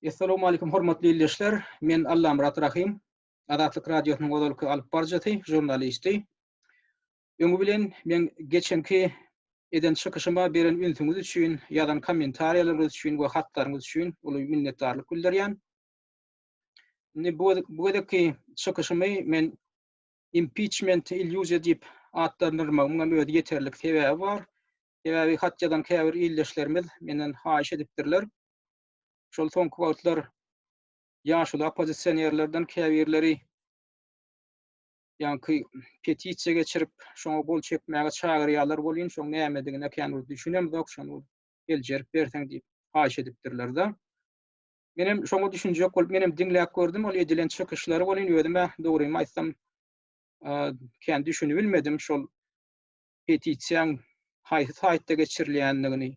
Essalamu aleykum hormatly ildeşler. Men Allamyrat Rahym. Azatlyk radiosynyň ozalky alyp baryjysy, žurnalisti. Öňi bilen men geçenki eden çykyşyma beren ünsüňiz üçin, ýazan kommentariýalaryňyz üçin we hatlaryňyz üçin uly minnetdarlyk bildirýän. Indi bu bu gezekki çykyşymy men impeachment illýuziýa diýip atlandyrmagymyň hem özi ýeterlik sebäbi bar. Sebäbi hat ýazan käbir ildeşlerimiz menden haýyş edipdirler. Şol soňky wagtlar ýaşuly oppozisionerlerden käbirleri ýaňky petisiýa geçirip, şoňa gol çekmäge çagyrýarlar welin, şoň nämedigine kän bir düşünemzok, şony seljerip berseň diýip haýyş edipdirler-de. Menem şoňa düşünjek bolup, menem diňläp gördüm ol edilen çykyşlary welin, özüm-ä dogrymy aýtsam, kän düşünibilmedim şol petisiýaň haýsy saýtda geçirilýändigini,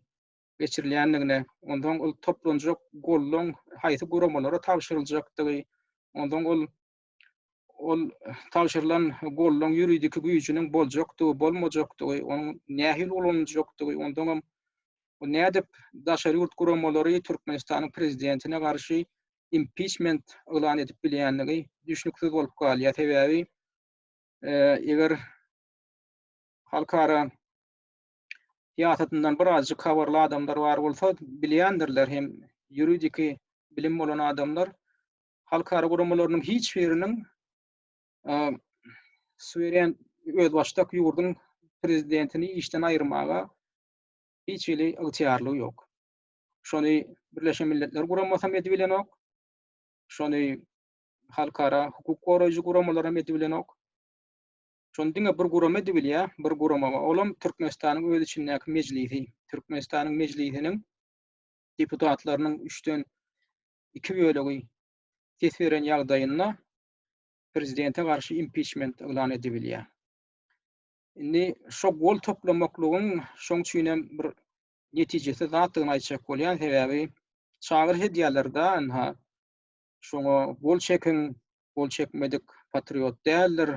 geçirilýändigine, onsoň ol toplanjak goldaň haýsy guramalara tabşyryljakdygy, onsoň ol ol tabşyrylan goldaň ýuridiki güýjüniň boljakdygy, bolmajakdygy, onuň nähili ulanyljakdygy, onsoňam bu nädip daşary ýurt guramalary Türkmenistanyň prezidentine garşy impiçment yglan edip bilýändigi düşnüksiz bolup galýar. Sebäbi eger halkara syýasatyndan birazjyk habarly adamlar bar bolsa bilýändirler hem ýuridiki bilim bolan adamlar halkara guramalarynyň hiç biriniň suweren özbaşdak ýurduň prezidentini işden aýyrmaga hiç hili ygtyýarlygy ýok. Şony Birleşen Milletler Guramasam edip bilenok. Şony halkara hukuk goraýjy guramalar hem edip bilenok. Şony diňe bir gurama edibilýär, bir gurama, olam Türkmenistanyň öz içindäki mejlisi. Türkmenistanyň mejlisiniň deputatlarynyň üçden iki bölegi ses beren ýagdaýynda prezidente garşy impiçment yglan edibilýär. Indi şo gol toplamaklygyň şoň üçin hem bir netijesiz zatdygyny aýtjak bolýan, sebäbi çagyryş edýärler-de, ynha, Şoňa gol çekiň, gol çekmedik patriot däldir.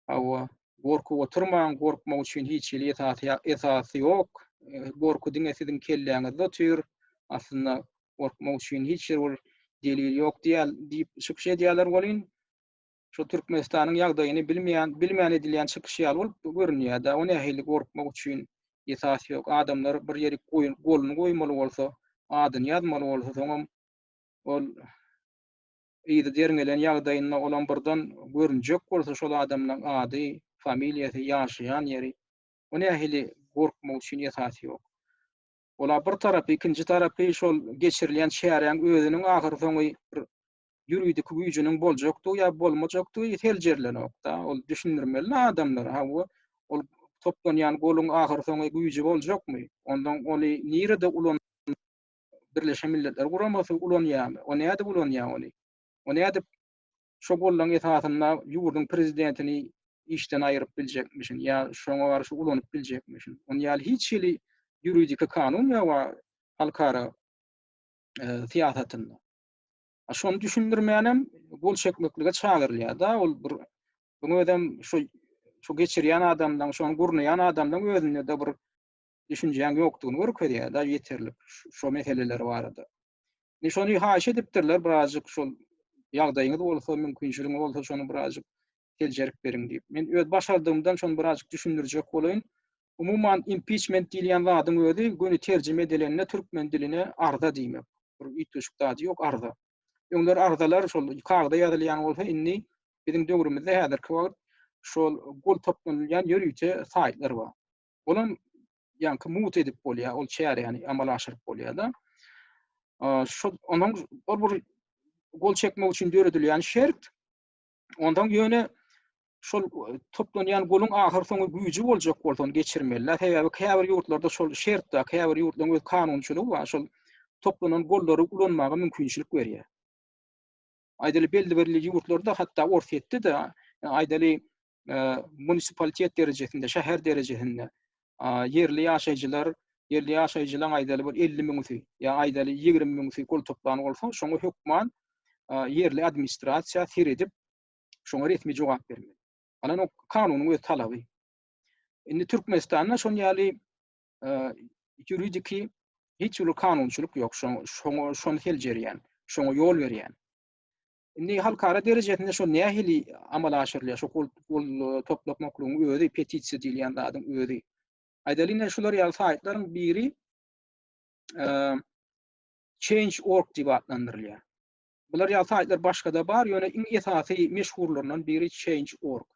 Hawa, gorkup oturmaň, gorkmak üçin hiç hili esasy esasy ýok. Gorky diňe siziň kelläňizde otyr. Aslynda gorkmak üçin hiç ýer ol delil ýok diýýär diýip çykyş edýärler welin, şu Türkmenistanyň ýagdaýyny bilmeýän, bilmän edilýän çykyş ýaly bolup görünýär-de, o nähili gorkmak üçin esas ýok. Adamlar bir ýerik goýun goluny goýmaly bolsa, adyny ýazmaly bolsa, soňam ol yzy derňelen ýagdaýynda olam birden görünjek bolsa şol adamlaň ady, familiýasy, ýaşaýan ýeri, o nähili gorkmak üçin esas ýok. Ola bir tarapy, ikinji tarapy şol geçirilýän çäräň özüniň ahyr soňy bir ýuridiki güýjüniň boljakdygy ýa bolmajakdygy seljerlenokda, ol düşündirmelida adamlara, ha bu ol toplanýan goluň ahyr soňy güýji boljakmy, ondan ony nirede ulan. Birleşen Milletler Guramasy ulanýarmy? O nädip ulanýar ony? O nädip şo gollaryň esasynda ýurduň prezidentini işden aýyryp biljekmişin ýa şoňa garşy ulanyp biljekmişin? Ony ýaly hiç hili ýuridiki kanun ýok halkara e, syýasatynda. Şony düşündirmänem gol çekmeklige çagyrylýar-da, ol bir bu özem şu şu geçirýän adamdan, şony gurnaýan adamdan özünde-de bir düşünjäň ýokdugyny görkezýär daş ýeterlik şo meseleler barada. Indi şony haýyş edipdirler birazjyk şol ýagdaýyňyz bolsa, mümkinçiligiňiz bolsa şony birazjyk seljerip beriň diýip. Men öz başardygymdan şony birazjyk düşündirjek bolaýyn. Umuman impiçment diýilýän zadyň özi göni terjime edilende türkmen diline arza diýmek. Bir üýtgeşik zady ýok arza. Öňler arzalar şol kagda ýazylýan bolsa indi biziň döwrümizde häzirki wagt şol gol toplanylýan ýörite saýtlar bar. Olam ýaňky mut edip bolýar, ol çäräni amala aşyryp bolýar-da. Şu onuň ol bir gol çekmek üçin döredilýän şert. Ondan ýöne şol e, toplanýan goluň ahyr soňy güýji boljak bolsa ony geçirmeliler. Sebäbi käbir ýurtlarda şol şert bar, käbir ýurtlaryň öz kanunçylygy bar. Şol toplanan gollary ulanmaga mümkinçilik berýär. Aýdaly belli bir ýurtlarda hatda Orsýetde de e, aýdaly munisipalitet derejesinde, şäher derejesinde ýerli ýaşaýjylar, ýerli ýaşaýjylaryň aýdaly bir 50 müňüsi ýa aýdaly 20 müňüsi pul toplan bolsa, şoňa hökman ýerli administrasiýa seredip, şoňa resmi jogap bermeli. Alan o kanunyň öz talaby. Indi Türkmenistanda şoň ýaly ýuridiki hiç bir kanunçylyk ýok, şoň şoň şony seljerýän, şoňa ýol berýän. Indi halkara derejesinde şu nähili amala aşyrylýar? Şu pul pul toplamaklygyň özi, petisiýa diýilýän zadyň özi. Aýdalyň, şular ýaly saýtlaryň biri eee Change.org diýip atlandyrylýar. Bular ýaly saýtlar başga-da bar, ýöne iň esasy meşhurlaryndan biri Change.org.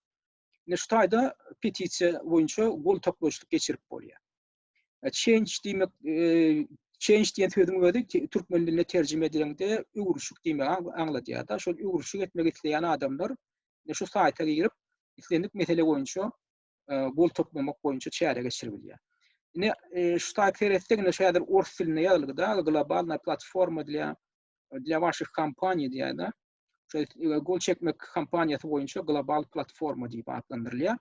Indi şu taýda petisiýa boýunça gol toplaýyşlyk geçirip bolýar. E, change diýmek, e, change diýen sözüň özi türkmen diline terjime edilende öwrüşik diýmegi aňladýar da. Şol öwrüşik etmek isleýän adamlar e, şu saýta girip, islendik mesele boýunça e, gol toplamak boýunça çäre geçirip bilýär. Ine, e, şu saýt seretsek, ine şu häzir ors dilinde ýazylgy da, globalna platforma diýýär, diýýär başga kompaniýa diýýär da. Şu e, gol çekmek kompaniýasy boýunça global platforma diýip atlandyrylýar.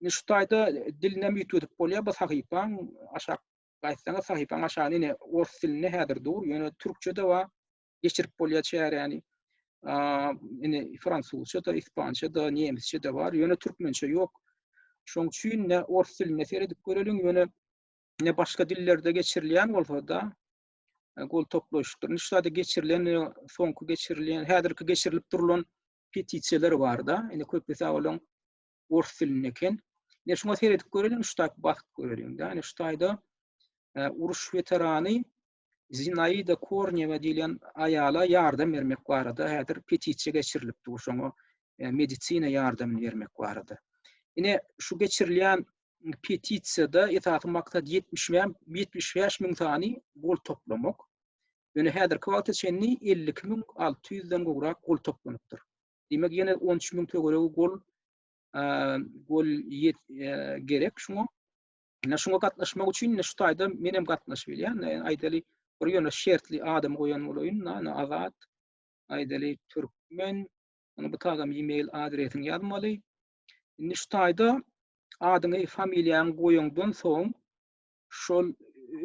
Indi şu taýda dilinem üýtgedip bolýar bu sahypaň aşak gaýtsaňyz sahypaň aşagyny ine ors dilinde häzir dur, ýöne türkçe-de bar. Geçirip bolýar çäräni. Ine fransuzça-da, ispança-da, nemisçe-de bar, ýöne türkmençe ýok. Şoň üçin ne ors dilinde seredip göreliň, ýöne ne başga dillerde geçirilýän bolsa-da, e, gol toplaşykdyr. Şu taýda geçirilen, e, soňky geçirilen, häzirki geçirilip durlan petisiýalar bar-da. Ine köp hesap olaň ors dilinde eken. Ne şuna seredip göreliň, şu taýda bakyp göreliň. Yani şu taýda e, uruş veterany Zinaida Kornýewa diýlen aýala ýardam bermek barada häzir petisiýa geçirilipdi şoňa e, medisina ýardamyny bermek barada. Ine şu geçirilýän petisiýada esasy maksat 75 müň sany gol toplamak. Ýöne häzirki wagta çenli 52 müň 600 den gowrak gol toplanypdyr. Diýmek ýene on üç müň töweregi gol gol gerek şuňa. Ine şuňa gatnaşmak üçin ine şu taýda men hem gatnaşyp bilýän. Aýdaly bir ýöne şertli adam goýan bolaýyn. Ine azat. Aýdaly türkmen. Ony bu taýda e-mail adresiňi ýazmaly. Indi şu taýda adyňy, familiýaňy goýaňdan soň şol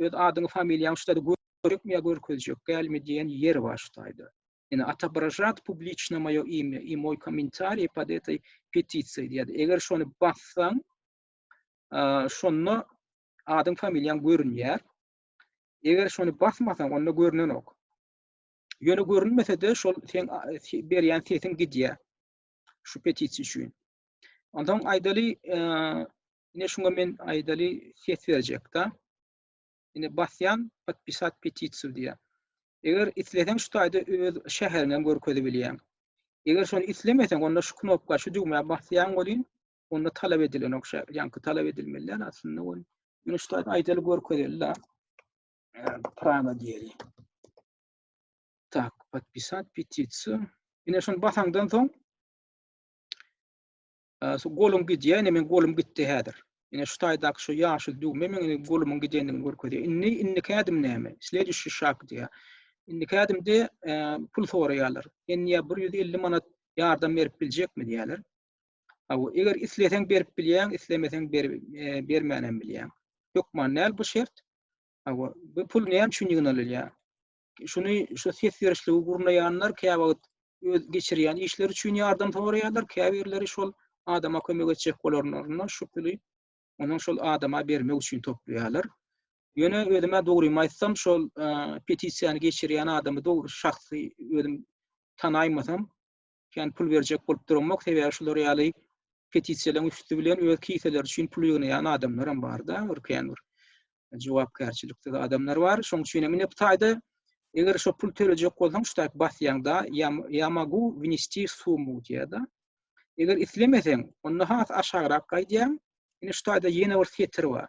öz adyňy, familiýaňy şu taýda görükmä görkezjek, gelme diýen ýer bar şu taýda. Ýöne otobrajat publiçna moýo imýa i moý komentariý pod etai petisiýa diýýär. Eger şony bassaň, şonda adyň familiýaň görünýär. Eger şony basmasaň, onda görnenok. Ýöne görünmese-de şol sen berýän sesiň gidýär. Şu petisiýa üçin. Ondan aýdaly, ine şuňa men aýdaly ses berjek-de. Indi basýan podpisat petisiýa diýýär. Eger isleseň şu taýda öz şäheriňi hem görkezip bilýäň. Eger şony islemeseň onda şu knopka şu düwmä basýaň welin onda talap edilenok şä ýaňky talap edilmeli däl aslynda ol. Ýöne şu taýda aýdaly görkezeli da. Praga diýeli. Tak, podpisat petisiýa. Ine şony basaňdan soň Şu golum gidýär, indi men golum gitdi häzir. Ine şu taýdaky şu ýaşyl düwme meň indi golumyň gidendigini görkezýär. Indi indiki ädim näme? Slediçi şak diýýär. Indiki ädimde e, pul soraýarlar. Enýä 150 manat ýardam berip biljekmi diýýärler. Aw, eger isleseň berip bilýäň, islemeseň ber, e, bermänem bilýäň. Hökman näl bu şert? Aw, bu pul näme üçin ýygnalylýar? şuny şu ses berişligi gurnaýanlar käwagt öz geçirýän işleri üçin ýardam soraýarlar, käbirleri şol adama kömek etjek bolanlarynda şu puly onuň şol adama bermek üçin toplaýarlar. Ýöne özüme dogrymy aýtsam, şol e, petisiýany geçirýän adamy dogry şahsy özüm tanaýmasam, kän pul berjek bolup duranmok, sebäbi şular ýaly petisiýalaryň üsti bilen öz kiseleri üçin pul ýygnaýan adamlar hem bar-da, bir kän bir jogapkärçiliksiz adamlar bar. Şoň üçin hem ine bu taýda eger şo pul tölejek bolsaň, şu taýda basýaňda ýa magu wnesti summu diýýär-de. Eger islemeseň, onda has aşagrak gaýdýaň. Ine şu taýda ýene bir setir bar.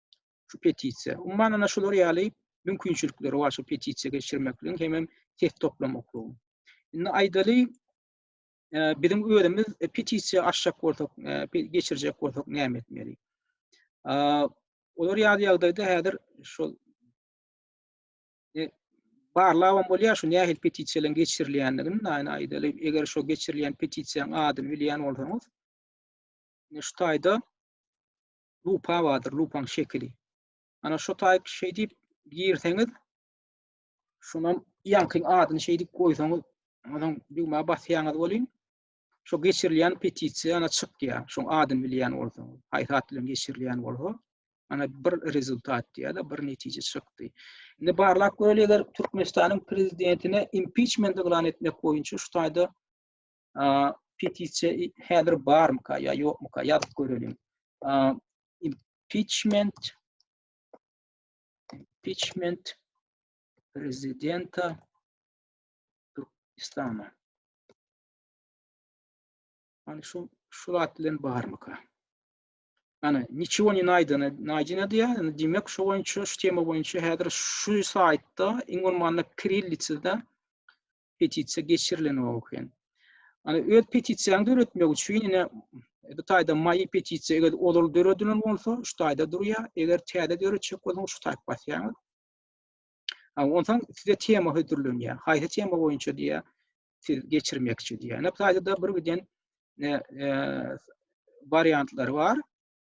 şu petisiýa. Umuman ana şular ýaly mümkinçilikleri bar şu petisiýa geçirmekligiň hemem ses toplamaklygyň. Indi aýdaly e, biziň özümiz e, petisiýa açjak bolsak, e, geçirjek bolsak näme etmeli? Olar ýaly ýagdaýda häzir şol barlabam bolýar şu nähili petisiýalaryň geçirilýändigini, näin aýdaly, eger şu geçirilýän petisiýanyň adyny bilýän bolsaňyz, şu taýda lupa bardyr, lupaň şekili. Ana şu taýp şeý diýip girseňiz, şunam ýaňky adyny şeý diýip goýsaňyz, onuň düwmä basýaňyz welin, şu geçirilýän petisiýa ana çykýar. Şoň adyny bilýän bolsa, haýsy at bilen geçirilýän bolsa, ana bir rezultat diýýär-de, bir netije çykdy. Indi barlak göreler Türkmenistanyň prezidentine impiçment yglan etmek boýunça şu taýda petisiýa häzir barmyka ýa ýokmyka ýazyp görelim. Impeachment impeachment prezidenta Türkmenistana. Hani şu şu zat bilen barmyka? Ana, niçiwo ni naýdana, naýdana diýär. Yani, diýmek, şu boýunça, şu tema boýunça häzir şu saýtda iň bolmanda kirillitsada petisiýa geçirilen o eken. Ana öz petisiýany döretmek üçin ine bu taýda maýy petisiýa eger ozal döredilen bolsa, şu taýda durýar. Eger täze döretjek bolsaňyz şu taýp basýaňyz. Ondan size tema hödürlenýär. Haýsy tema boýunça diýýär, siz geçirmekçi diýýär. Ine bu taýda bir giden e, e, wariantlar bar.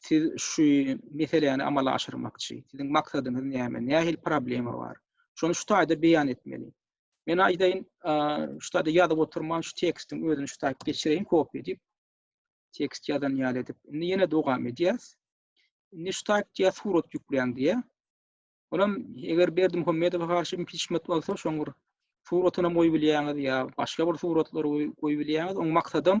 Siz şu meseläni amala aşyrmakçy. Siziň maksadyňyz näme? Nähili problema bar? Şony şu taýda beýan etmeli. Men aýdaýyn, şu taýda ýazyp oturman şu tekstiň özüni şu taýda geçireýin, kopiýa edip. Tekst ýazan ýaly edip. Indi ýene dowam edýäs. Indi şu taýda diýýär, surat ýükleýän diýýär. Olam eger Berdim Hümmedowa garşy impiçment bolsa, şoň bir suratyny goýup bilýäňiz ýa başga bir suratlary goýup bilýäňiz. Oň maksadam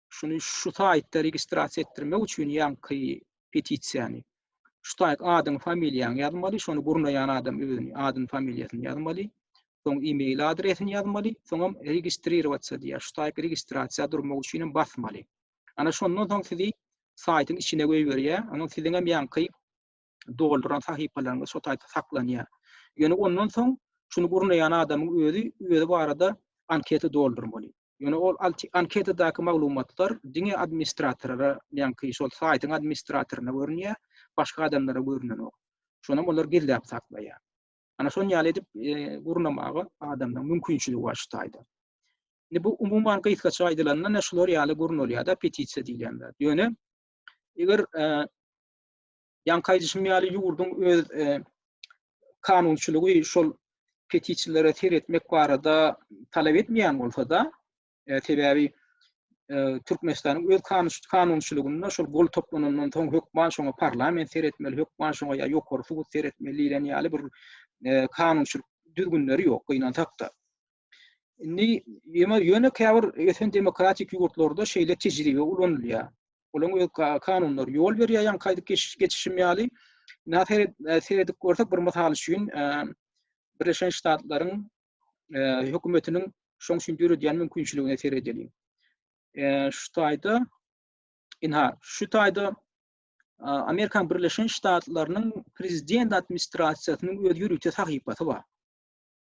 Şuny şu saýtda registrasiýa etdirmek üçin ýaňky petisiýany şu saýt adyň familiýaň ýazmaly, şony gurnaýan adam özüni adyny familiýasyny ýazmaly. Soň e-mail adresini ýazmaly, soňam registririwatsa diýýär. Şu saýt registrasiýa durmak üçin hem basmaly. Ana şondan soň sizi saýtyň içine goýberýär. Onuň siziňem ýaňky dolduran sahypalaryňyz şo taýda saklanýar. Ýöne ondan soň şuny gurnaýan adamyň özi özi barada anketa doldurmaly. Ýöne ol anketadaky maglumatlar diňe administratora, ýaňky şol saýtyň administratoryna görünýär, başga adamlara görnenok. Şonam olar gizläp saklaýar. Ana şon ýaly edip e, gurnamaga adamda mümkinçiligi bar şu taýda. Indi bu umuman gysgaça aýdylanda näme şular ýaly gurnalýar-da petisiýa diýilende. Ýöne eger e, Ýaňky aýdyşym ýaly ýurduň öz kanunçylygy şol petiçilere seretmek barada talap etmeýän bolsa-da, e, sebäbi e, Türkmenistanyň öz kanunçylygynda şol gol toplanandan soň hökman şoňa parlament seretmeli, hökman şoňa ýa ýokary sud seretmeli diýlen ýaly bir e, kanunçylyk düzgünleri ýok, gynansak-da. Indi ýöne ýöne käbir ösen demokratik ýurtlarda şeýle tejribe ulanylýar. Olaryň öz kanunlary ýol berýär, ýaňky aýdyp geçişim ýaly. Nähili e, seredip görsek, bir mysal üçin, e, Birleşen Ştatlaryň e, hökümetiniň şoň üçin döredýän mümkinçiligine seredeliň. Şu taýda inha, şu taýda Amerikan Birleşen Ştatlarynyň prezident administrasiýasynyň öz ýörite sahypasy bar.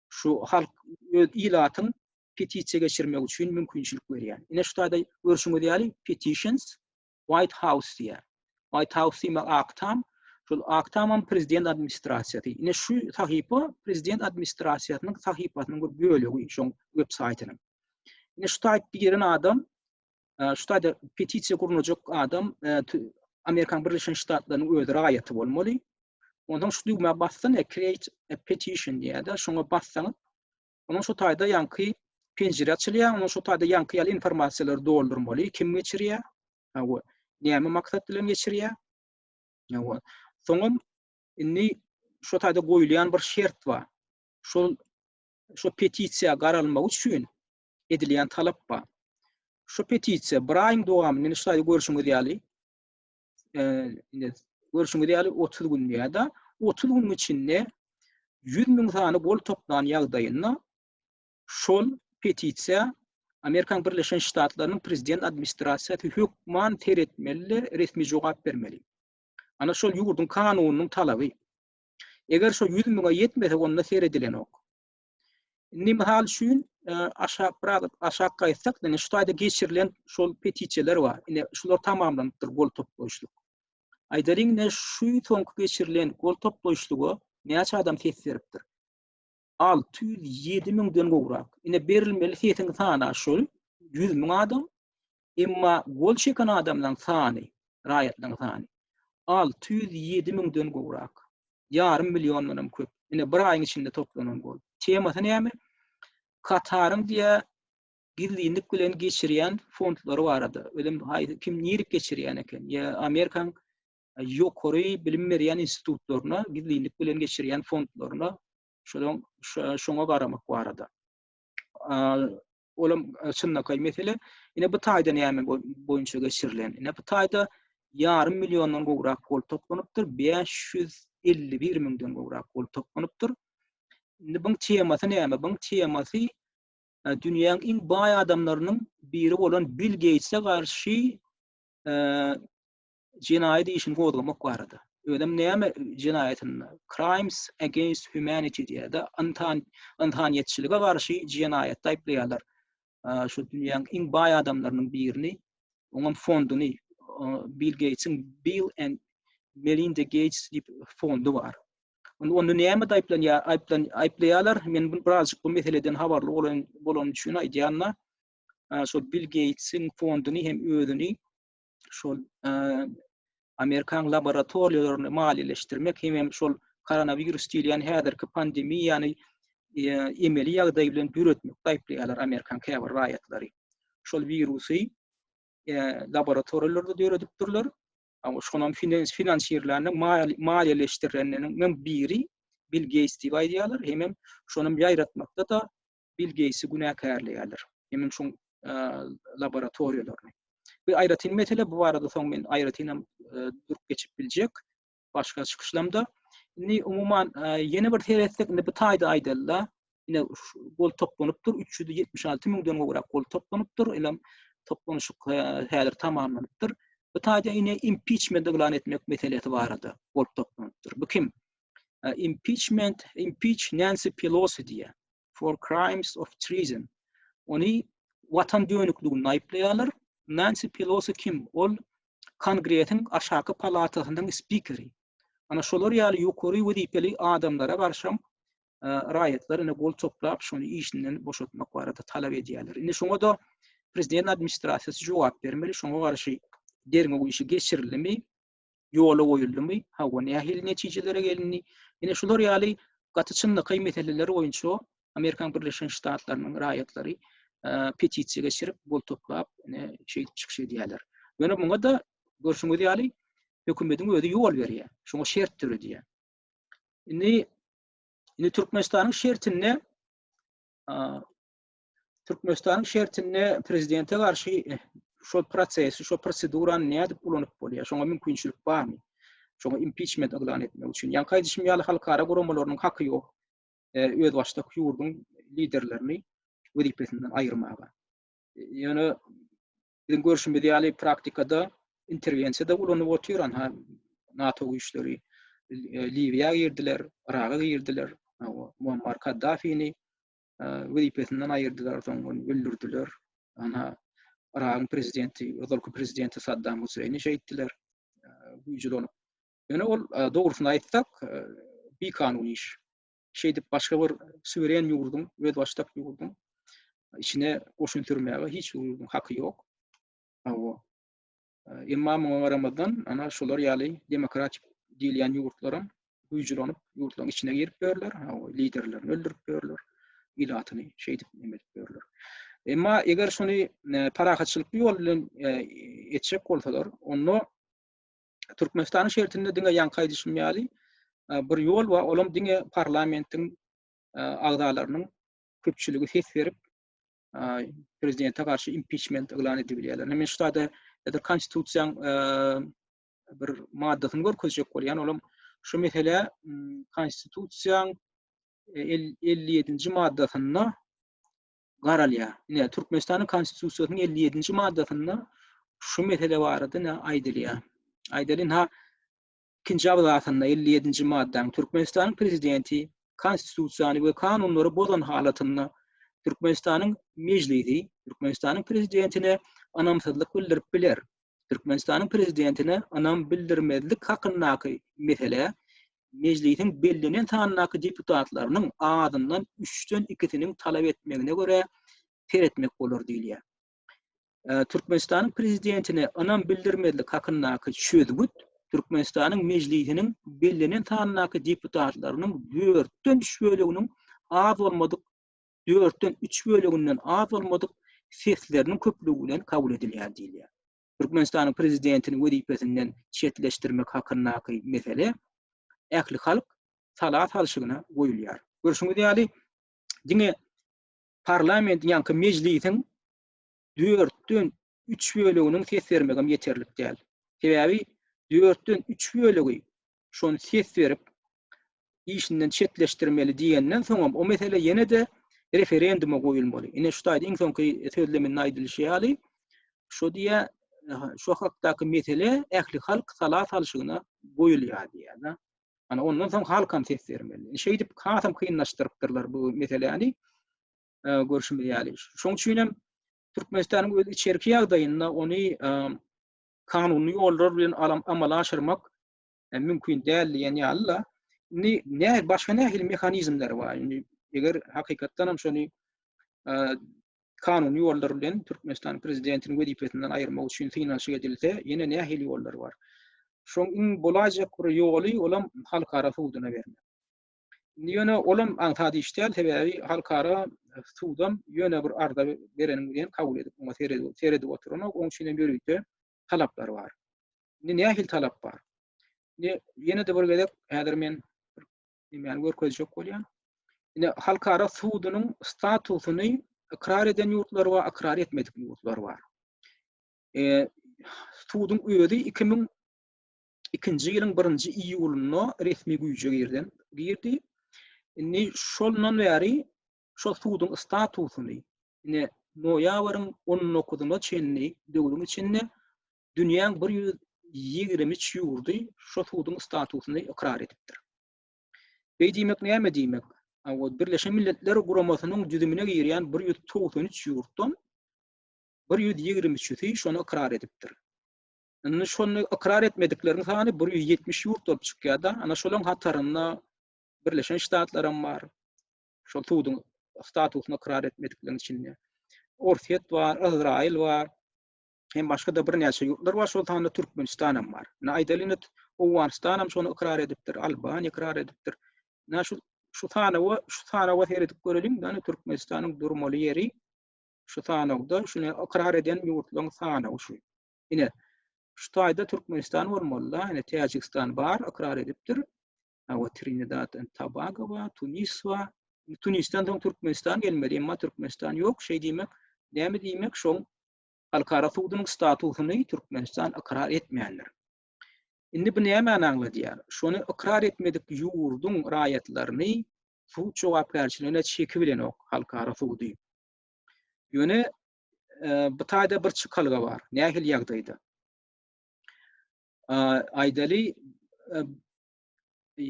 şu halk öz ilatyň petisiýa geçirmek üçin mümkinçilik berýär. Ine şu taýda görşüňiz ýaly petitions White House diýär. White House diýmek Ak Tam. Şol Ak Tamam prezident administrasiýasy. Ine şu sahypa prezident administrasiýasynyň sahypasynyň bir bölegi, şoň web saýtynyň. Ine şu taýt giren adam Şu taýda petisiýa gurnajak adam Amerikanyň Birleşen Ştatlarynyň öz raýaty bolmaly. Ondan şu düwmä bassan, create a petition diýýär-de, şoňa bassaňyz, ondan şu taýda ýaňky penjire açylýar, ondan şu taýda ýaňky ýaly informasiýalary doldurmaly, kim geçirýär, hawa, näme maksat bilen geçirýär. Hawa. Soňam indi şu taýda goýulýan bir şert bar. Şol şu petisiýa garalmagy üçin edilýän talap bar. Şu petisiýa bir aýyň dowamynda, indi şaýda görşüňiz ýaly, e, indi görşüňiz ýaly 30 gün ýa-da 30 gün içinde 100 müň sany gol toplan ýagdaýynda şol petisiýa Amerikan Birleşen Ştatlarynyň prezident administrasiýasy hökman seretmeli, resmi jogap bermeli. Ana şol ýurduň kanunynyň talaby. Eger şol 100 müňe ýetmese, onda seredilenok. Indi mysal üçin e, aşak biraz aşak gaýtsak, ýani şu taýda geçirilen şol petisiýalar bar. Indi şular tamamlanypdyr gol toplaýyşlyk. Aýdalyň ne şu soňky geçirilen gol toplaýyşlyga näçe adam ses beripdir? 607 müňden gowrak. Indi berilmeli sesiň sany şol 100 müň adam. Emma gol çeken adamlaryň sany, raýatlaryň sany alty ýüz ýedi müňden gowrak. Ýarym milliondan hem köp. Ine, bir aýyň içinde toplanan gol. Temasy näme? Kataryň diýä gizlinlik bilen geçirýän fondlary barada. Özem haýsy kim nirip geçirýän eken? Ýa Amerikaň ýokary bilim berýän institutlaryna gizlinlik bilen geçirýän fondlaryna şonuň şoňa garamak barada. olam e, çynlakaý mesele. Ine bu taýda näme boýunça geçirilen? Ine bu taýda ýarym milliondan gowrak gol toplanypdyr, 551 müňden gowrak gol toplanypdyr. Indi buň temasy näme? Buň temasy e, dünýäň iň baý adamlarynyň biri bolan Bill Geýtse garşy e, jenaýat işini gozgamak barada. Özem näme jenaýatynda? Crimes against humanity diýýärdi. Ynsan ynsanyýetçilige garşy jenaýatda aýyplaýarlar. Şu dünýäniň iň baý adamlarynyň birini, oňam fonduny, Bill Geýtsiň Bill and Melinda Geýts diýip fondy bar. Onda onda nämede aýyplanýar? Aýyplan aýyplaýarlar. Men bu birazjyk bu meseleden habarly bolan bolan üçin aýdýan-da, şu Bill Geýtsiň fonduny hem özüni şol Amerikan laboratoriýalaryny maliýeleşdirmek hem şol koronawirus diýilýän häzirki pandemiýany e, emeli ýagdaý bilen döretmek gaýplaýarlar Amerikan käbir raýatlary. Şol wirusy e, laboratoriýalarda döredipdirler. Ama şonam finans finansirleriniň maliýeleşdirenleriniň biri Bill Gates diýip aýdýarlar. Hem hem şonam ýaýratmakda da Bill Geýtsi günäkärleýärler. Hemiň şuň laboratoriýalaryny. Bu aýratyn mesele, bu barada soň men aýratyn hem durup geçip biljek başga çykyşlamda. Indi umuman ýene bir seretsek, indi bu taýda aýdalda, ine gol toplanypdyr, 376 müňden gowrak gol toplanypdyr, elem toplanyşyk häzir tamamlanypdyr. Bu taýda ine impiçment yglan etmek meselesi barada gol toplanypdyr. Bu kim? impeachment impeach Nancy Pelosi diye for crimes of treason. Onu vatan dönükliginde aýyplaýarlar. Nancy Pelosi kim? Ol Kongresiň aşaky palatasynyň spikeri. Ana şolar ýaly ýokary wezipeli adamlara garşam e, raýatlar ine gol toplap şony işinden boşatmak barada talap edýärler. Indi şoňa da prezident administrasiýasy jogap bermeli. Şoňa garşy derňew işi geçirilimi? ýola goýuldymy, hawa, nähili netijelere gelindi? Ine, şular ýaly gaty çynlakaý meseleler boýunça Amerikan Birleşen Ştatlarynyň raýatlary petisiýa geçirip, gol toplap, ine, şeýdip çykyş edýärler. Ýöne muňa da görşüňiz ýaly hökümetiň özi ýol berýär, şoňa şert döredýär. Indi, indi Türkmenistanyň şertinde Türkmenistanyň şertinde prezidente garşy şol prosesi, şol prosedurany nädip ulanyp bolýar? Şoňa mümkinçilik barmy? Şoňa impiçment yglan etmek üçin. Ýa kaýdyşym ýaly halkara guramalarynyň haky ýok. E, öz başdak ýurduň liderlerini wezipesinden aýyrmaga. E, ýöne biziň görşümiz ýaly praktikada interwensiýa da ulanyp otyr, ha NATO güýçleri e, Liwiýa girdiler, Yraga girdiler, Muammar Kaddafini wezipesinden aýyrdylar, soň ony öldürdiler. Ana, Yragyň prezidenti, ozalky prezidenti Saddam Huseýni şeýtdiler, güýjülonip. Ýöne ol, dogrusyny aýtsak, bikanun iş. Şeýdip, başga bir suweren ýurduň, özbaşdak ýurduň içine goşun sürmäge hiç bir ýurduň haky ýok. Hawa. Emma muňa garamazdan, ana şular ýaly demokratik diýilýän ýurtlaram güýjülänip, ýurtlaryň içine girip ýörler, liderlerini öldürip ýörler, ilatyny şeýdip neme edip ýörler. Emma eger şuny e, parahatçylykly ýol bilen e, etjek bolsalar, onda Türkmenistanyň şertinde diňe ýaňky aýdyşym ýaly e, bir ýol we olam diňe parlamentiň agzalarynyň köpçüligi ses berip, prezidente garşy impiçment yglan edip bilýärler. Men şu sada edir konstitusiýaň bir maddasyny görkezjek bolýan, olam şu mesele konstitusiýaň 57-nji e, maddasynda garalýar. Ine, Türkmenistanyň konstitusiýasynyň 57-nji maddasynda şu mesele barada ne aýdylýar. Aýdalyň ha ikinji abzasynda elli ýedinji maddanyň Türkmenistanyň Prezidenti Konstitusiýany we kanunlary bozan halatynda Türkmenistanyň Mejlisi Türkmenistanyň Prezidentine ynamsyzlyk bildirip biler. Türkmenistanyň Prezidentine ynam bildirmezlik hakyndaky meselä Mejlisiň bellenen sandaky deputatlarynyň azyndan üçden ikisiniň talap etmegine görä seretmek bolar diýilýär. Türkmenistanyň Prezidentine ynam bildirmezlik hakyndaky çözgüt Türkmenistanyň Mejlisiniň bellenen sanyndaky deputatlarynyň dörtden üç böleginiň az bolmadyk dörtden üç böleginden az bolmadyk sesleriniň köplügi bilen kabul edilýär diýilýär. Türkmenistanyň prezidentini wezipesinden çetleşdirmek hakyndaky mesele ählihalk sala salşygyna goýulýar. Görşüňiz ýaly, diňe parlamentiň ýaňky mejlisiň dörtden üç böleginiň ses bermegem ýeterlik däl. Sebäbi dörtden üç bölegi şony ses berip işinden çetleşdirmeli diýenden soňam o mesele ýene-de referenduma goýulmaly. Ine şu taýda iň soňky sözleminde aýdylyşy ýaly şu diýä şu hakdaky mesele ählihalk sala salşygyna goýulýar diýýär. Ana ondan soň halkam ses bermeli. Şeýdip hasam kynlaşdyrypdyrlar bu meseläni. Görşümiz ýaly. Şoň üçin hem Türkmenistanyň öz içerki ýagdaýynda ony kanuny ýollar bilen alam amala aşyrmak e, mümkin däl diýen ýaly-la. Indi nä başga nähili mehanizmler bar? Indi eger hakykatdan hem şony e, kanuny ýollar bilen Türkmenistanyň prezidentini wezipesinden aýyrmak üçin synanyşyk edilse, ýene nähili ýollar bar? Şoň iň bolaýjak bir ýoly, olam halkara suduna bermek. Indi ýöne olam aňsat iş däl, sebäbi halkara sudam ýöne bir arza bereniňi bilen kabul edip, oňa seredip oturanok, oň üçinem ýörite talaplar bar. Indi nähili talap bar? Indi ýene-de bir gezek häzir men nämäni görkezjek bolýar? Ine, halkara sudunyň statusyny ykrar eden ýurtlar we ykrar etmedik ýurtlar bar. E, suduň özi 2002-nji ýylyň 1-nji iýulynda resmi güýje girdi. Girdi. Indi şondan bäri şu suduň statusyny, ine, noýabryň 19-na çenli döwrüň içinde dünýäň bir ýüz ýigrimi üç ýurdy şu suduň statusyny ykrar edipdir. Beý diýmek näme diýmek? Hawa, Birleşen Milletler Guramasynyň düzümine girýän bir ýüz togsan üç ýurtdan bir ýüz ýigrimi üçüsi şony ykrar edipdir. Indi şony ykrar etmedikleriň sany bir ýüz ýetmiş ýurt bolup çykýar-da, ana şolaryň hatarynda Birleşen Ştatlar hem bar. Şol suduň statusyny ykrar etmedikleriň içinde. Orsýet bar, Yzraýyl bar. hem başga-da birnäçe ýurtlar bar, şol sanda Türkmenistan hem bar. Ine, aýdaly indi Owganystan hem şony ykrar edipdir, Albaniýa ykrar edipdir. Ine, şu şu sanawa, şu sanawa seredip göreliň, ýagny Türkmenistanyň durmaly ýeri şu sanawda, şuny ykrar eden ýurtlaryň sanawy şu. Ine, şu taýda Türkmenistan bolmaly-da, ine Täjigistan bar, ykrar edipdir. Hawa, Trinidad and Tobago bar, Tunis bar. Tunisden soň Türkmenistan gelmeli, emma Türkmenistan ýok, şeý diýmek, näme diýmek, şoň Halkara sudunyň statusyny Türkmenistan ykrar etmändir. Indi bu nämäni aňladýar? Şony ykrar etmedik ýurduň raýatlaryny sud jogapkärçiligine çekip bilenok halkara sudy. Ýöne e, bu taýda bir çykalga bar. Nähili ýagdaýda? Aýdaly e, e,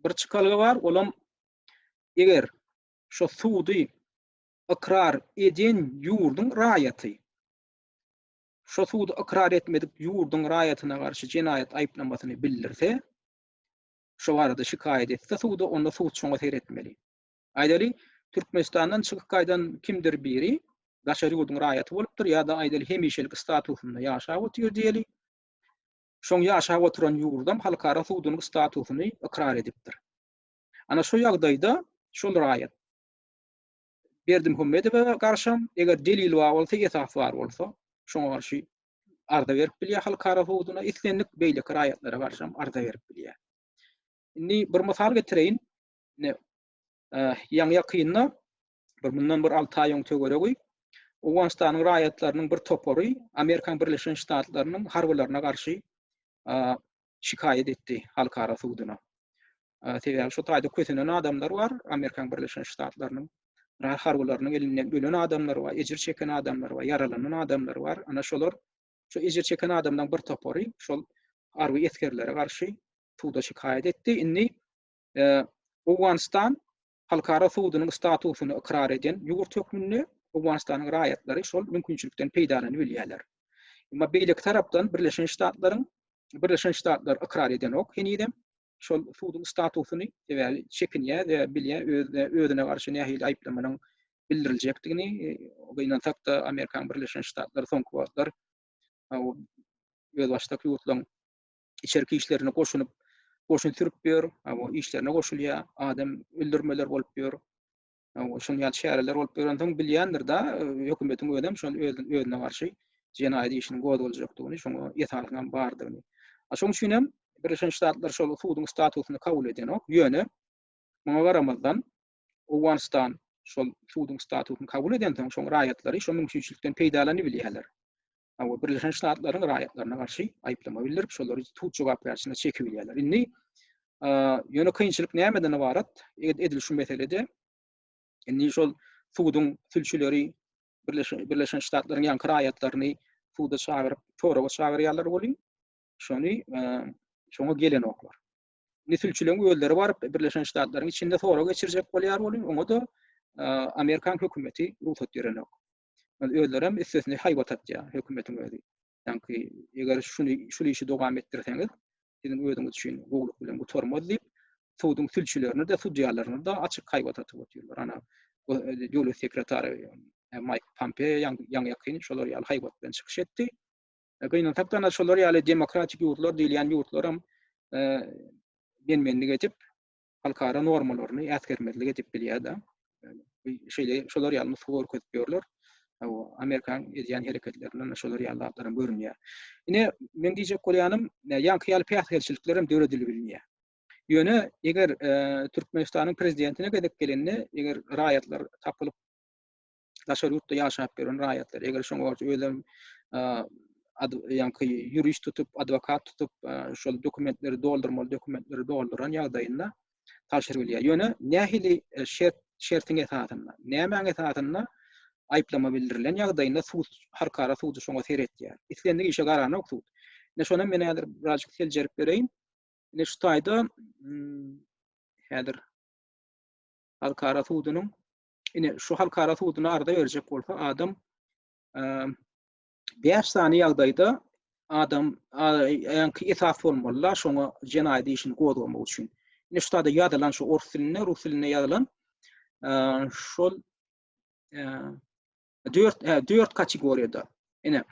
bir çykalga bar, olam eger şu sudy ykrar edýän ýurduň raýaty şo sudy ykrar etmedik ýurduň raýatyna garşy jenaýat aýyplamasyny bildirse, şo barada şikaýat etse suda, onda sud şoňa seretmeli. Aýdaly, Türkmenistandan çykyp gaýdan kimdir biri daşary ýurduň raýaty bolupdyr ýa-da aýdaly hemişelik statusynda ýaşap otyr diýeli, şoň ýaşap oturan ýurdam halkara sudunyň statusyny ykrar edipdir. Ana şo ýagdaýda şol raýat Berdimuhamedowa garşam, eger delil bar bolsa, esas bar bolsa, şoňa garşy arza berip bilýär halkara hukuguna, islendik beýleki raýatlara garşam arza berip bilýär. Indi bir mysal getireýin. Ine, ýaňy-ýakynda bir mundan bir alty aý öň töweregi Owganystanyň raýatlarynyň bir topary Amerikanyň Birleşen Ştatlarynyň harbylaryna garşy şikaýat etdi halkara suduna. Sebäbi şu taýda kösenen adamlar bar, Amerikan Birleşen Ştatlarynyň harbylarynyň elinden ölen adamlar bar, ejir çeken adamlar bar, ýaralanan adamlar bar. Ana şolar, şu ejir çeken adamlaryň bir topary şol harby esgerlere garşy suda şikaýat etdi. Indi Owganystan halkara sudunyň statusyny ykrar eden ýurt hökmünde Owganystanyň raýatlary şol mümkinçilikden peýdalanyp bilýärler. Emma beýleki tarapdan Birleşen Ştatlaryň Birleşen Ştatlar ykrar edenok henizem. şol suduň statusyny sebäbi çekinýär we bilýär özüne özüne garşy nähili aýyplamanyň bildiriljekdigini gynansakda Amerikan Birleşen Ştatlary soňky wagtlar özbaşdak ýurtlaryň içerki işlerine goşunyp goşun sürüp ýör işlerine goşulýar adam öldürmeler bolup ýör Şol ýaly çäreler bolup ýörensoň bilýändir da hökümetiň özem şol özüne garşy jenaýat işini gozgaljakdygyny, şoňa ýetarlyk hem bardygyny. Şoň üçin hem Birleşen Ştatlar şol suduň statusyny kabul edenok. Ýöne muňa garamazdan Owganystan şol suduň statusyny kabul edensoň, şoň raýatlary şo mümkinçilikden peýdalanyp bilýärler. we Birleşen Ştatlaryň raýatlaryna garşy aýyplama bildirip, şolary sud jogapkärçiligine çekip bilýärler. Indi ýöne kynçylyk nämeden ybarat? Edil şu meselede indi şol suduň sülçüleri Birleşen Ştatlaryň ýaňky raýatlaryny suda çagyryp, soraga çagyrýarlar welin, şony şoňa gelenoklar. Indi sülçüleriň özleri baryp Birleşen Ştatlaryň içinde sorag geçirjek bolýar welin, oňa da Amerikan hökümeti rugsat berenok. Ol özlerem üstesine haýbat atýar hökümetiň özi. Sanki eger şuny şul işi dowam etdirseňiz, siziň özüňiz üçin gowluk bilen gutarmaz diýip, suduň sülçülerini de, sudýalaryny da açyk haýbat atyp otyrlar. Ana, döwlet sekretary Maýk Pompeo ýaňy ýakyn şolar ýaly haýbat bilen çykyş etdi. Gynansak-da, ana şolar ýaly demokratik ýurtlar diýilýän ýurtlaram men-menlik edip, halkara normalaryny äsgermezlik edip bilýär-de. Şeýle şolar ýaly nusga görkezip ýörler. Hawa, Amerikanyň edýän hereketlerinden şolar ýaly zatlaram görünýär. Ine, men diýjek bolýanym, ýaňky ýaly päsgelçilikler hem döredilip bilmeýär. Ýöne eger Türkmenistanyň prezidentine gezek gelende, eger raýatlar tapylyp, daşary ýurtda ýaşap ýören raýatlar, eger şoň borç özem ýaňky ýurist tutup, adwokat tutup, şol dokumentleri doldurmaly dokumentleri dolduran ýagdaýynda tabşyryp bilýär. Ýöne nähili e, şert şertiň esasynda, nämäň esasynda aýyplama bildirilen ýagdaýynda sud halkara sudy şoňa seretýär. Islendik işe garanok sud. Ne şonam men häzir birazjyk seljerip bereýin. Ne şu taýda hmm, häzir halkara sudunyň ine şu halkara suduna arza berjek bolsa adam bäş sany ýagdaýda adam ýaňky esas bolmalylar şoňa jenaýat işini gozgamak üçin. Ine şu taýda ýazylan şu ors dilinde, rus dilinde ýazylan şol Dört, e, dört kategoriýada. Ine,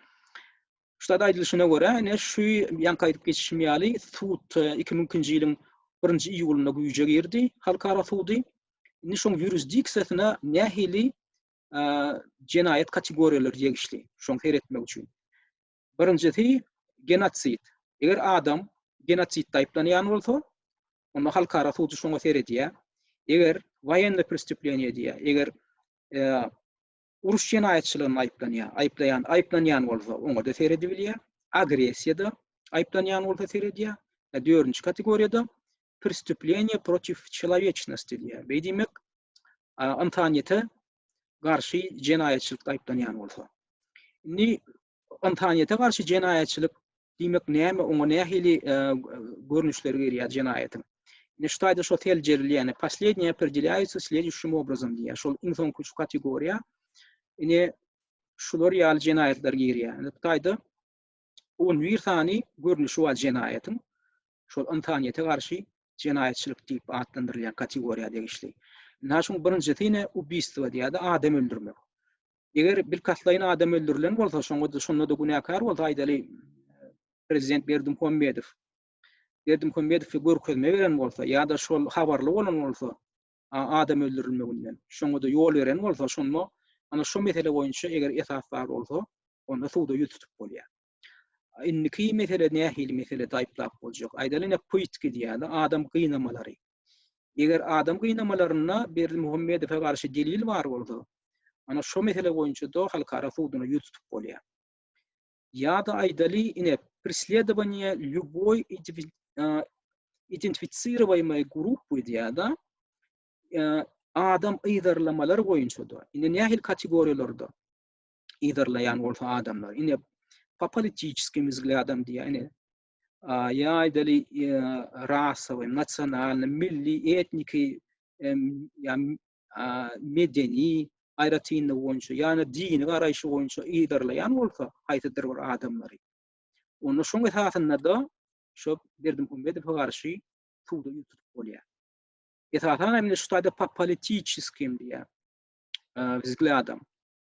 şurada aýdylyşyna görä, ine şu ýanka aýdyp geçişim ýaly, sud 2002-nji e, ýylyň 1-nji iýulynda güýje girdi, halkara sudy. Indi şoň ýurisdiksiýasyna nähili e, jenaýat kategoriýalary degişli, şoň seretmek üçin. Birinjisi genosid. Eger adam genotsidde aýyplanýan bolsa, onda halkara sudy şoňa seredýär. Eger waýenny prestüpleniýe diýýär, eger uruş jenaýatçylygynda aýyplanýar, aýyplaýan, aýyplanýan bolsa oňa-da seredibilýär, agressiýada aýyplanýan bolsa seredýär, e, dördünji kategoriýada prestüpleniýe protiv çelawečnosti diýýär. Beý diýmek, ynsanyýete garşy jenaýatçylykda aýyplanýan bolsa. Indi Ynsanyýete garşy jenaýatçylyk diýmek näme, oňa nähili görnüşleri girýär jenaýatyň? Ine şu taýda şo seljerilýän, posledniýe opredelýaýutsy sledişim obrazom diýýär. Şol iň soňky şu kategoriýa. Ine şular ýaly jenaýatlar girýär. Ine bu taýda 11 sany görnüşi bar jenaýatyň. Şol ynsanyýete garşy jenaýatçylyk diýip atlandyrylýan kategoriýa degişli. Ine şuň birinjisi ine ubiýstwo diýýär-de, adam öldürmek. Eger bilkastlaýyn adam öldürilen bolsa, şoňa-da şonda-da günäkär bolsa, aýdaly, prezident Berdimuhamedow. Berdimuhamedow görkezme beren bolsa ýa-da şol habarly bolan bolsa, adam öldürilmeginden, şoňa-da ýol beren bolsa, şonda ana şu mesele boýunça eger esas bar bolsa, onda suda ýüz tutup bolýar. Indiki mesele nähili mesele aýyplap boljak? Aýdaly, ine, pytki diýýärler, adam gynamalary. Eger adam gynamalarynda Berdimuhamedowa garşy delil bar bolsa, ana şo mesele boýunça-da halkara suduna ýüz tutup bolýar. Ýa-da aýdaly ine presledowaniýe lýuboý identifisirowaýmaý grup öýdýär-de, adam yzarlamalar boýunça-da, ine nähili kategoriýalarda yzarlaýan bolsa adamlar, ine popolitiçeskiý mzgladam diýýär, ine ýa aýdaly rasowy, nasionalny, milli, etniki, medeni aýratynlygy boýunça ýa-da dini garaýşy boýunça yzarlaýan bolsa haýsydyr bir adamlary, onda şoň esasynda-da şo Berdimuhamedowa garşy suda ýüz tutup bolýar. Esasan hem şu taýda popolitiçeskim diýýär, wzglýadam.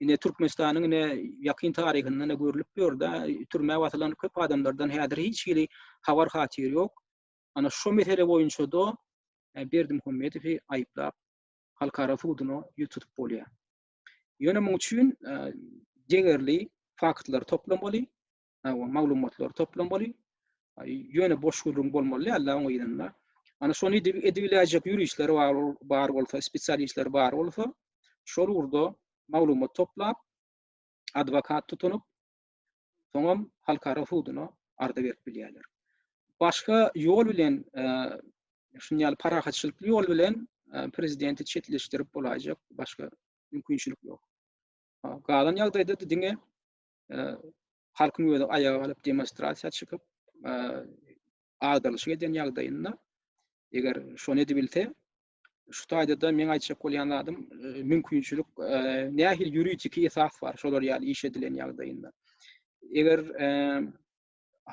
Ine Türkmenistanyň ine ýakyn taryhynda ine görlüp ýörde, türmä basylan köp adamlardan häzir hiç hili habar hatyr ýok. Ana şu mesele boýunça da e, Berdi Muhammedowy aýyplap halkara suduna ýüz tutup bolýar. Ýöne muň üçin e, degerli faktlar toplamaly, maglumatlary toplamaly. Ýöne boş gürrüň bolmaly däl oňa ýerinde. Ana şony edip edibiläýjek ýuristler bar, bar bolsa, spesialistler bar bolsa, şol ugurda maglumat toplap, adwokat tutunyp, soňam halkara suduna arza berip bilýärler. Başga ýol bilen, e, şuny ýaly parahatçylykly ýol bilen e, prezidenti çetleşdirip bolaýjak başga mümkinçilik ýok. Galan ýagdaýda diňe halkyň özi aýaga galyp demonstrasiýa çykyp agdarlyşyk eden ýagdaýynda eger şony edibilse şu taýda-da meň aýtjak bolýan zadym mümkinçilik nähili ýuridiki esas bar şolar ýaly iş edilen ýagdaýynda eger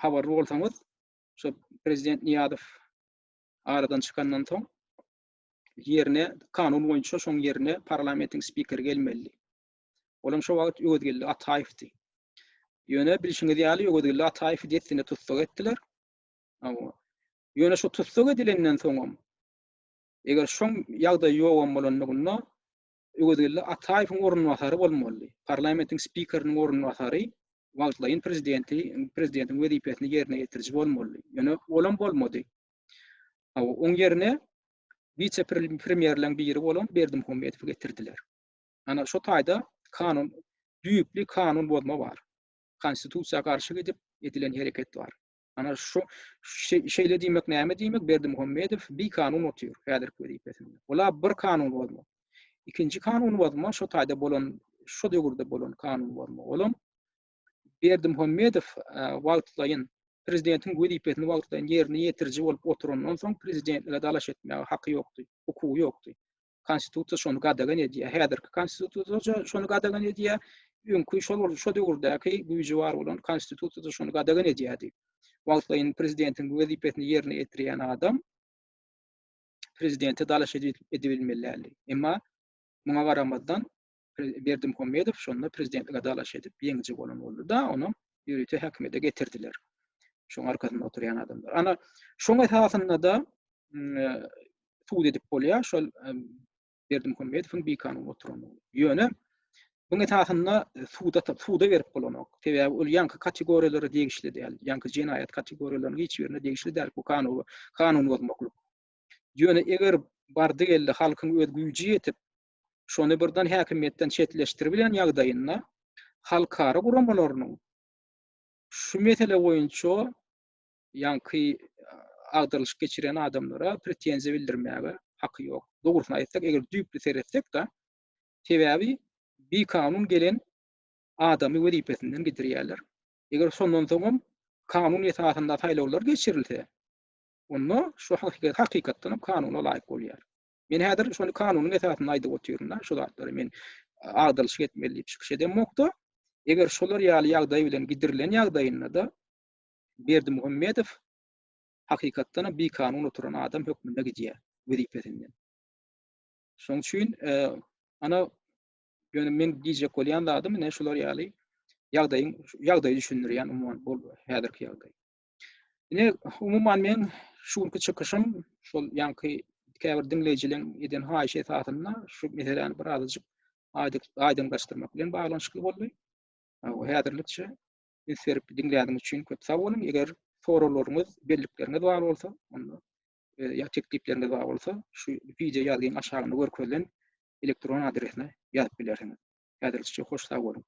habarly bolsaňyz şu prezident Niýazow aradan çykandan soň ýerine kanun boýunça şoň ýerine parlamentiň spikeri gelmeli. Olam şo wagt Öwezgeldi Ataýewdi. Ýöne bilşiňiz ýaly Öwezgeldi Ataýewi dessine tussag etdiler. Hawa. Ýöne şu tussag edilenden soňam eger şoň ýagdaý ýogam bolandygynda Öwezgeldi Ataýewiň orunbasary bolmalydy. Parlamentiň spikeriniň orunbasary wagtlaýyn prezidenti, prezidentiň wezipesini ýerine ýetiriji bolmalydy. Ýöne olam bolmady. Hawa, oň ýerine wise-premýerleriň biri bolan Berdimuhamedowy getirdiler. Ana şu taýda kanun düýpli kanun bozma bar. Konstitusiýa garşy gidip edilen hereket bar. Ana şu şeýle diýmek näme diýmek Berdimuhamedow bir kanun otyr häzirki wezipesinde. Ola bir kanun bozma. Ikinji kanun bozma şu taýda bolan şu döwürde bolan kanun bozma. Olam Berdimuhamedow wagtlaýyn prezidentiň wezipesini wagtlaýyn ýerine ýetiriji bolup oturandan soň prezidentlige dalaş etmäge haky ýokdy, hukugy ýokdy. Konstitusiýa şony gadagan edýär. Häzirki Konstitusiýa şony gadagan edýär. Öňki şol şu döwürdäki güýji bar bolan Konstitusiýa şony gadagan edýärdi. Wagtlaýyn prezidentiň wezipesini ýerine ýetirýän adam prezidente dalaş edibilmeli däldi. Emma muňa garamazdan Berdimuhamedow şonda prezidentlige dalaş edip ýeňiji bolan boldy da ony ýörite häkimiýete getirdiler. Şoň arkasynda oturýan adamlar. Ana şoň esasynda da sud edip bolýar şol Berdimuhamedowyň bikanun oturandygy. Ýöne bu esasynda suda suda berip bolanok. Sebäbi ol ýaňky kategoriýalara degişli däl. Ýaňky jenaýat kategoriýalarynyň hiç birine degişli däl bu kanun kanun bozmaklyk. Ýöne eger bardy geldi halkyň öz güýji ýetip şony birden häkimiýetden çetleşdiribilen ýagdaýynda halkara guramalarynyň şu mesele boýunça ýaňky agdarylyş geçiren adamlara pretenziýa bildirmäge haky ýok. Dogrusyny aýtsak, eger düýpli seretsek-de, sebäbi bikanun gelen adamy wezipesinden gidirýärler. Eger şondan soňam kanun esasynda saýlawlar geçirilse, onda şu hakykat hakykatdanam kanuna laýyk bolýar. Men häzir şony kanunyň esasynda aýdyp otyryn-da, şu zatlary men agdalyşyk etmeli diýip çykyş edemok-da. Eger şolar ýaly ýagdaý bilen gidirilen ýagdaýynda-da Berdimuhamedow hakykatdanam bikanun oturan adam hökmünde gidýär wezipesinden. Şonuň üçin ana ýöne men diýjek bolýan zadym ine şular ýaly ýagdaýyň ýagdaýy düşündirýän umuman bu häzirki ýagdaý. Ine, umuman men şu günki çykyşym şol ýaňky käbir diňleýjileriň eden haýyşy esasynda şu meseläni bir azajyk aýdyňlaşdyrmak bilen baglanyşykly boldy. Häzirlikçe üns berip diňläniňiz üçin köp sag boluň. Eger soraglaryňyz, bellikleriňiz bar bolsa, onda e, ýa teklipleriňiz bar bolsa, şu wideo ýazgyň aşagynda görkezilen elektron adresine ýazyp bilersiňiz. Häzirlikçe hoş sag boluň.